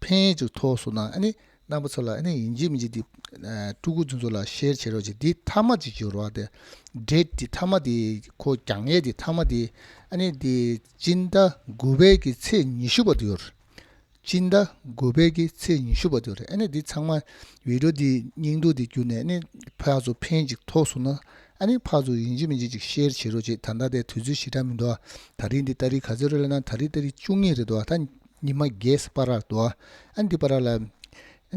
ཕན་ཡོད་ཅིག་ཐོག་སོང་ན་རྣམ་པ་ཚོ་ལ་ཡིན་གཅིག་མིན་གཅིག་དེ་སྤྲུལ་སྐུ་རྫུན་ཚོ་ལ་ཤེར་བྱེད་རོགས་ཅིག་དེ་མཐའ་མ་ཅིག་བྱོས་རོགས་དེ་འདྲས་དེ་མཐའ་མ་དེ་ཁོ་རྒྱག་ངེས་དེ་མཐའ་མ་དེ་ཨཱ་ནི་སྤྱིན་ཟླ་དགུ་པའི་གི་ཚེས་ཉི་ཤུ་པ་དེའོ་རེད་སྤྱིན་ཟླ་དགུ་པའི་གི་ཚེས་ཉི་ཤུ་པ་དེའོ་རེད་ཨཱ་ནི་དེ་ཚང་མ་བིདྷོ་དེ་སྙིང་སྡུག་དེ་གྱུར་ནས་ཕག་ཚོ་ཕན་ཅིག་ཐོག་སོང་ན་ཨཱ་ནི་ཕག་ཚོ་ཡིན་གཅིག་མིན་གཅིག་ཅིག་ཤེར་བྱེད་རོགས་ཅིག་ད་ལྟ་དེ་དུས་ཚོད་ཞེ་དྲག་མི་འདུག་ད་རིང་དེ་ཏཱ་རི་ག་ཚོད་རེད་ལབ་ན་ད་རིང་ཏཱ་རི་བཅུ་གཉིས་རེད་འདུག་ད་ཉི་མ་རྒས་སུ་པ་ར་དོ། ཨ་འདི་པ་ར་ལ།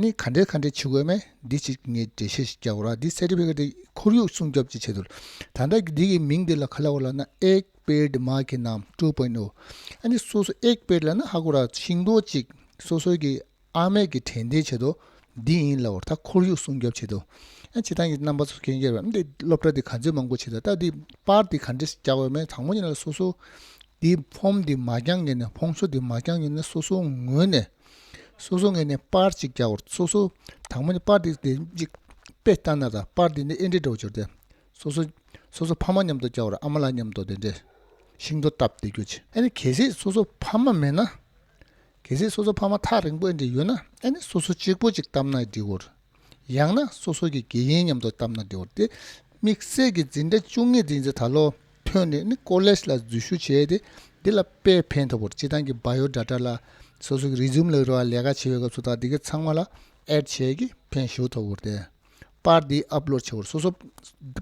ནི་ག་འདྲའི་ག་འདྲའི་ཆུ་གོས་མེ་འདི་ཅིག་ངས་འབྲེལ་བཤད་ཞིག་རྒྱག་གོ་ར་འདི་གསེར་ཁྲི་བྷེ་ཁ་ཏའི་ཁོར་ཡུག་སྲུང་སྐྱོབ་ཀྱི་ཆེད་དུ་ལ། ད་ལྟ་གི་འདི་གི་མིང་འདི་ལ་ག་ལ་གོ་ལ་ན་ཨེག་པེད་མ་ཁེ་ནམ་ཀྲུའུ་པོན་ཨུ། ཨ་འདི་སོ་སོ་ཨེག་པེད་ལ་ན་ཧ་གོ་ར་ཤིང་རྡོ་ཅིག་སོ་སོའི་གི་ཨ་མེག་གི་དྲན་རྟེན་བྱེད་དོ་འདི་ཡིན་ལ་བར་ད་ཁོར་ཡུག་སྲུང་སྐྱོབ་བྱེད་དུ་ཨ་བྱེད་སྟངས་ཀྱི་རྣམ་པ་སོ་སོ་གན་རྒྱལ་བ་འདི་སློབ་གྲྭ་འདི་ག་ཚོད་མང་པོ་བྱེད་ད་ལྟ་འདི་པར་འདི་ག་འདྲའི་ཞིག་རྒྱག་འོས་མེད་དང་པོ་ཉིད་ལ་སོ་སོ་འདི་འཕོངས་འདི་མ་བསྐྱངས་ངས་ནི་འཕོངས་སོ་འདི་མ་བསྐྱངས་ངས་ནི་སོ་སོའི་ངོས་ནས་སོ་སོ་ངས་ནི་པར་གཅིག་བརྒྱ་བོར་སོ་སོ་དང་པོ་ནི་པར་འདི་དེ་གཅིག་དཔེ་ལྟ་ན་དང་པར་འདི་ནི་ཨེ་འདྲའི་འདྲ་བོ་སྦྱོར་ཏེ་སོ་སོ་སོ་སོ་ཕ་མ་མཉམ་དུ་བསྐྱལ་བར་ཨ་མ་ལ་མཉམ་དུ་དེ་འདྲའི་ཤིང་ཏོག་བཏབ་སྟེ་རྒྱུ། ཨེ་ནི་གལ་སྲིད་སོ་སོ་ཕ་མ་མེད་ན། གལ་སྲིད་སོ་སོ་ཕ་མ་ཐག་རིང་པོ་ཨེ་འདྲའི་ཡོད་ན་ཨེ་ནི་སོ་སོ་གཅིག་པོ་གཅིག་བཏབ་ན་འདྲའི་བོར། ཡང་ན་སོ་སོ་ཀྱི་དགེ་ཡིན་སྙམ་དུ་བཏབ་ན་འགྱུར་ཏེ། དམིགས་བསལ་གྱི་འཛིན་གྲྭ་བཅུ་གཉིས་འདི་ཚེ་ད་ལོ་ཐོན་ནས་ནི་ཀོ་ལེ་ཞི་ལ་འཛུལ་ཞུགས་བྱས་ཏེ་འདི་ལ་དཔེ་ཕན་ཐོགས་པར་སྤྱི་བཏང་གི་བ་ཡོ་དྲ་ཏྲ་ལ་སོ་སོ་ཀྱི་རིས་འཛུམ་ལེགས་རོལ་བ་ལས་ཀ་བྱེད་པའི་སྐབས་སུ་དག་འདི་གའི་ཚང་མ་ལ་ཨེར་བྱས་ཀྱི་ཕན་ཞུགས་ཐོབ་བོར་ཏེ། པར་འདི་ཨབ་ལོར་བྱས་བོར་སོ་སོ་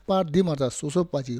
པར་འདི་མ་ཐག་སོ་སོ་པ་གཅིག་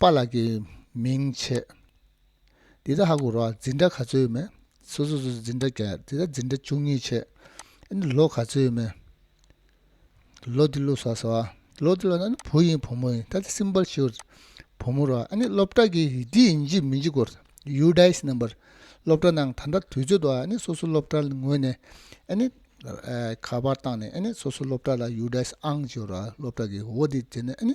པཱ་ལགས་ཀྱི་མིང་ཆད། དེ་ད་ཧ་གོ་རོགས་འཛིན་གྲྭ་ག་ཚོད་ཡོད་མེད་སོ་སོ་སོ་འཛིན་གྲྭ་བརྒྱད་དེ་ད་འཛིན་གྲྭ་བཅུ་གཉིས་ཆད་ཨེ་ནི་ལོ་ག་ཚོད་ཡོད་མེད་ལོ་དེ་ལོ་གསར་ཟེར་བ་ལོ་དེ་ལོ་ན་ནི་བུ་ཡིན་བུ་མོ་ཡིན་ད་ད་སིམ་པལ་ཤོད་རེད་བུ་མོ་རོགས་ཨེ་ནི་སློབ་གྲྭ་གི་འདི་ཡིན་གྱི་མིན་གྱི་སྐོར་ཟེར་ཡུ་དཱའི་སི་ནམ་པར་སློབ་གྲྭ་ནང་ད་ད་དུས་ཚོད་དང་ཨེ་ནི་སོ་སོ་སློབ་གྲྭ་ལ་ངོས་ནས་ཨེ་ནི་ཁ་པར་བཏང་ནས་ཨེ་ནི་སོ་སོ་སློབ་གྲྭ་ལ་ཡུ་དཱའི་སི་ཨང་བྱོས་རོགས་སློབ་གྲྭ་གི་འོ་དེ་བྱས་ནས་ཨེ་ནི་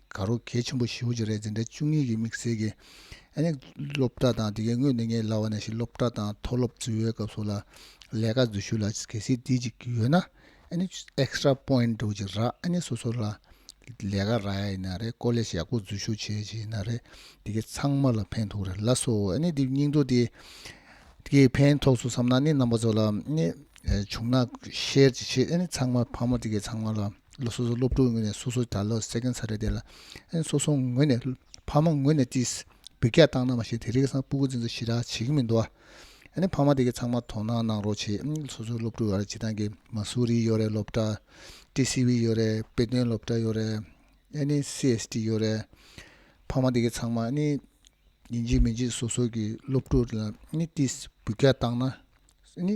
དགའ་རོགས་གལ་ཆེན་པོ་ཞི་བོ་ཅོ་རས་འཛིན་གྲྭ་བཅུ་གཉིས་ཀྱི་དམིགས་བསལ་གྱི་ཨ་ནེ་སློབ་གྲྭ་དང་དེ་གའི་དངོས་གནས་ངའི་ལག་བར་ན་ཞིག་སློབ་གྲྭ་དང་མཐོ་སློབ་བརྩི་བའི་སྐབས་སོགས་ལ་ལས་ཀ་འཛུལ་ཞུགས་ལ་གལ་སྲིད་དུས་གཅིག་ཡོད་ན་ཨ་ནེ extra point འགྲོ་གི་ར་ཨ་ནེ་སོ་སོ་ལ་ལས་ཀ་རག་ཡ་ཡིན་ན་རེད་ཀོ་ལེ་ཞེ་ཡག་པོ་འཛུལ་ཞུགས་བྱེད་ཀྱི་ཡིན་ན་རེད་དེ་གའི་ཚང་མ་ལ་ཕན་ཐོགས་རེད་ལ་སོ་ཨ་ནེ་དེ་སྙིང་སྟོབས་དེ་གའི་ཕན་ཐོགས་སུ་བསམ་ན་ཨ་ནེ་རྣམ་པ་ཚོ་ལ་ཨ་ནེ་བྱུང་ན་ཤེར་གྱི་ཆེད་ཨ་ནེ་ཚང་མ་ཕ་མ་དེ་གའི་ཚང་མ་ལ། ལོ་སོ་སོའི་སློབ་ཕྲུག་ངོས་ནས་སོ་སོའི་གྲྭ་བློ་གསལ་མཁན་ཚ་རེད་དེ་ལ་སོ་སོ་ངོས་ནས་ཕ་མ་ངོས་ནས་ཅི་འབུད་རྒྱག་བཏང་ན་མ་ཤེས་དེ་རིགས་སང་སྤུ་གུ་འཛིན་ཚུལ་ཞི་རགས་བྱེད་ཀྱི་མི་འདུག་ཨ། ཕ་མ་དེ་གས་ཚང་མ་དོ་སྣང་གནང་རོགས་བྱས་སོ་སོའི་སློབ་ཕྲུག་ཡོད་རེད་བྱེད་སྟངས་ཀྱི་མ་སུ་རི་ཡོད་རེད་སློབ་གྲྭ། ཏི་སི་བི་ཡོད་རེད་དཔེ་སྟོན་སློབ་གྲྭ་ཡོད་རེད་ཨ་ནི་སི་ཨེ་སི་ཏི་ཡོད་རེད། ཕ་མ་དེ་གས་ཚང་མ་ཨ་ནི་ཡིན་གཅིག་མིན་གཅིག་སོ་སོ་གི་སློབ་ཕྲུག་ལ་ཨ་ནི་ཅི་འབུད་རྒྱག་བཏང་ན་ཨ་ནི།